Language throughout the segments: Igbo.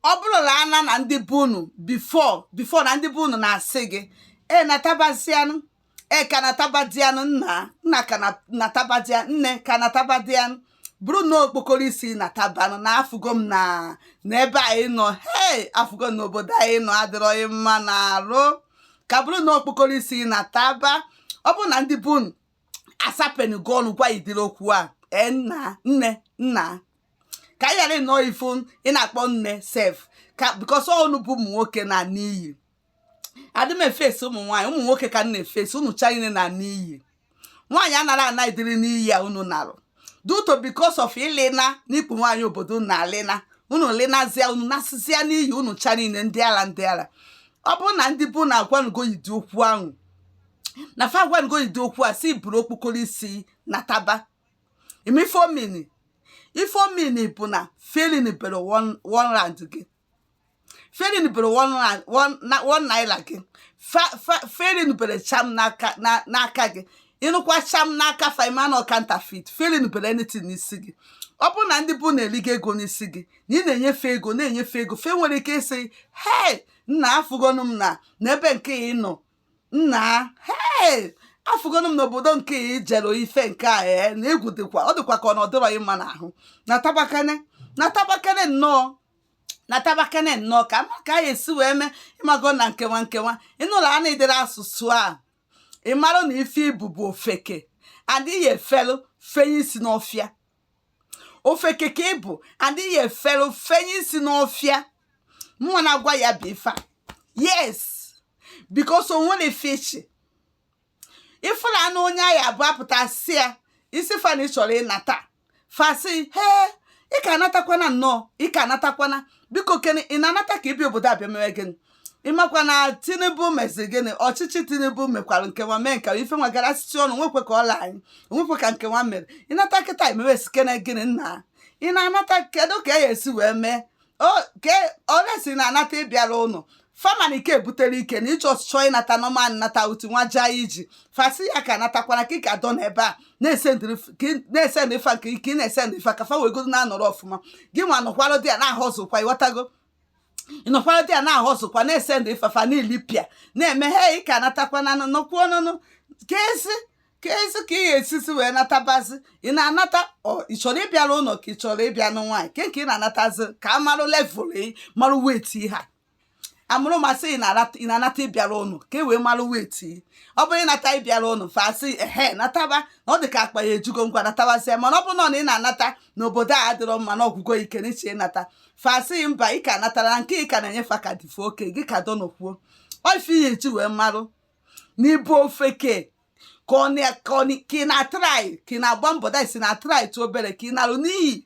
ọ bụrụ na ana na ndị be unu before before na ndị be unu na-asị gị e natabazianụ e ka natabadianụ nna nna ka na- natabadia nne ka natabadianụ burunụ okpokoro isi natabanụ na afụgo m na na ebe a ị nọ hei afụgo m na obodo a ị nọ adịrọ gị mma na arụ ka burunụ okpokoro isi nataba ọ bụrụ na ndị be unu asapenugo ọnụ gwa ị ụdịrị okwu a ee nna nne nna ka anyị ghara ịnọọ ifu ị na-akpọ nne sef ka because unu bụ ụmụ nwoke na n'iyi adị m efesi ụmụ nwaanyị ụmụ nwoke ka m na-efesi unu cha niile na n'iyi nwaanyị anarọ ana ụdịrị n'iyi a unu narụ due to because of ịlịna n'ikpu nwaanyị obodo na alịna unu lịnazịa unu nasịzịa n'iyi unu cha niile ndị ala ndị ala ọ bụrụ na ndị be unu agwanugo ị ụdị okwu ahụ na fa agwago ị ụdị okwu a sị buru okpokoro isi nataba ị ma ife ọ mean ife ọ mean bụ na fe elinubere one rand gị fe elinubere one naira gị fe elinubere cham n'aka gị ị nụkwa cham n'aka fa ị ma na ọ counterfeit fe elinubere anything n'isi gị ọ bụrụ na ndị be unu eligo ego n'isi gị na ị na-enye fe ego na-enye fe ego fe nwere ike ịsị hei nna afụgonu m na n'ebe nke ị nọ nna hei afụgonu m n'obodo nke ị jere ife nke a ee na egwu dịkwa ọ dịkwa ka ọ na ọ dịrọ gị mma n'ahụ natabakene natabakene nnọọ natabakene nnọọ ka a ma ka a ya-esi wee mee ị mago na nke nwa nke nwa ị nụlụ ana ụdịrị asụsụ a ị mara na ife ị bụ bụ ofeke and ị ya-efelu fenye isi n'ọfịa ofeke ka ị bụ and ị ya-efere fenye isi n'ọfịa mụnwa na-agwa ya bụ ife a yes because o nwere ife iche ị fụla na onye ahụ abụ apụta sị ya ị sị fa na ị chọrọ ịnata fa sị he ị ka anatakwana nnọọ ị ka anatakwana biko kene ị na-anata ka ịbịa obodo a bịa mewe gịnị ị makwa na tinubu mezi gịnị ọchịchị tinubu mekwara nke nwa mee nke ife nwa garasịsị ọnụ nwekwe ka ọ la anyị nwekwe ka nke nwa mere ị nata kịta imewe sikene gịnị nna ị na-anata kedu ka e esi wee mee okay unless ị na-anata ịbịa arụ ụnọ fa ma na ike ebutere ike na ịchọ ọchịchọ ịnata normal nata utu nwa jaa iji fa sị ya ka anatakwana ka ị ka dọ n'ebe a na-esend ife nke ike ị na-esend ife ka fa wegodo na-anọrọ ọfụma gị nwa nọkwalụ there na-ahustle kwa ị ghọtago ị nọkwara there na-ahustle kwa na-esend ife fa niile bịa na-eme ha ị ka anatakwana nọkwuo nụnụ keezi keezi ka ị ga-esisi wee natabazi ị na-anata ọ ị chọrọ ịbịa arụ ụlọ ka ị chọrọ ịbịa nụ nwaanyị ke nke ị na-anatazi ka a marụ level ị marụ weight ha amarụ ma sị ị na-anata ị na-anata ịbịa arụ ụnọ ka e wee marụ weight ọ bụrụ ị nata ịbịa arụ ụnọ fa sị ehe nataba na ọ dị ka akpa ya ejugo ngwa natabazie mana ọ bụrụ na ọ na ị na-anata n'obodo a adịrọ mma na ọ gwụgo ị ike na ị chọ ịnata fa sị mba ị ka natara nke ị ka na-enyefe ka dịfe oke gị ka donokwuo o ife ihe eji wee marụ na ị bụ ofeke ka ọ na- ka ọ na- ka ị na-atry ka ị na-agba mbọ that is na-atry tụ obere ka ị narụ n'iyi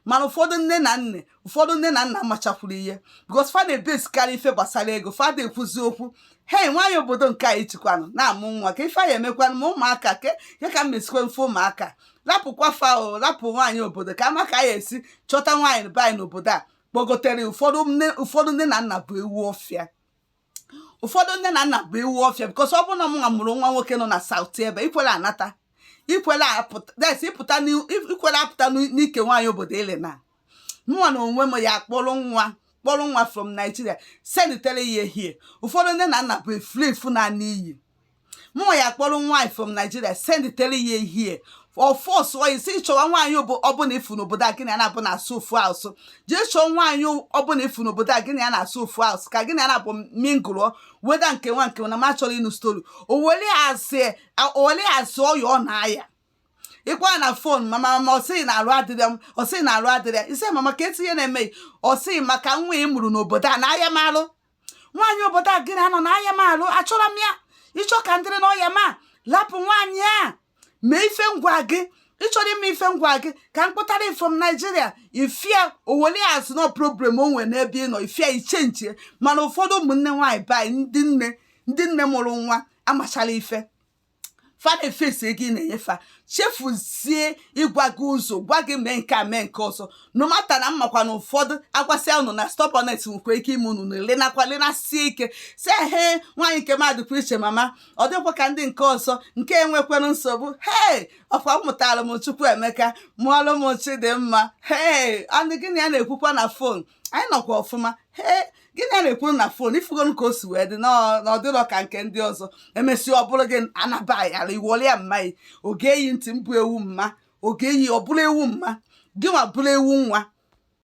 mana ụfọdụ nne na nne ụfọdụ nne na nna machakwuru ihe because fa na-ebesikarị ife gbasara ego fa na-ekwuzi okwu hei nwaanyị obodo nke a ijikwanụ na-amụ nwa ka ife anyị emekwanụ ma ụmụaka ke ya ka m mesikwe mfe ụmụaka lapụkwa fa o lapụ nwaanyị obodo ka a ma ka anyị esi chọta nwaanyị be anyị n'obodo a kpọgotere ụfọdụ nne ụfọdụ nne na nna bụ ewu ọfịa ụfọdụ nne na nna bụ ewu ọfịa because ọ bụrụ na mụnwa mụrụ nwa nwoke nọ na South ebe ikwere anata ikwere apụta that is ịpụta n'ihu- ikwere apụta n'ike nwaanyị obodo ele na mụnwa na onwe m ya kpọrọ nwa kpọrọ nwa from Nigeria sendtere ya ehie ụfọdụ nne na nna bụ efulefu na n'iyi mụnwa ya kpọrọ nwaanyị from Nigeria sendtere ya ehie of course ị sị chọwa nwaanyị ọbụla ị fụ n'obodo a gị na ya na-abụ na-asụ ofu asụ jee chọọ nwaanyị ọbụla ị fụ n'obodo a gị na ya na-asụ ofu asụ ka gị na ya na-abụ mingle whether nke nwa nke na ma chọrọ ịnụ story o wele asị ọya ọ na-aya ị kpọọ ya na phone mama mama ọ sị gị na arụ adịrọ m ọ sị gị na arụ adịrọ ya ị sị mama kedu ife na-eme ọ sị gị maka nwa ị mụrụ n'obodo a na-aya m alụ nwaanyị obodo a gị na ya nọ na-aya m alụ achọrọ m ya ị chọọ ka m dịrị n'ọya m lapụ nwaanyị a mee ife m gwa gị ị chọrọ ime ife m gwa gị ka m kpọtara gị from Nigeria ị fụ ya o were azụ na problem o nwere n'ebe ị nọ ị fụ ya ị change mana ụfọdụ ụmụnne nwaanyị be anyị ndị nne ndị nne mụrụ nwa amacharọ ife fa na-efesi ego ị na-enye fa chefuzie ịgwa gị ụzọ gwa gị mee nke a mee nke ọzọ no matter na m makwa na ụfọdụ agwasịa unu na stubborn head nwekwa ike ime unu na-elenakwa lenasie ike sị ehe nwaanyị nke m a dịkwa iche mama ọ dịkwa ka ndị nke ọzọ nke a enwekwarọ nsogbu hee ọkwa mụtara m Chukwuemeka mụọlụ m Chidimma hee and gị na ya na-ekwukwa na phone anyị nọkwa ọfụma ee gị na ya na-ekwuru na phone ị fụgonụ ka o si wee dị na ọ dịrọ ka nke ndị ọzọ emesịa ọ bụrụ gị anabaghara ị worry ya mma yi oge eyi ntị mbụ ewu mma oge eyi ọ bụrụ ewu mma gị nwa bụrụ ewu nwa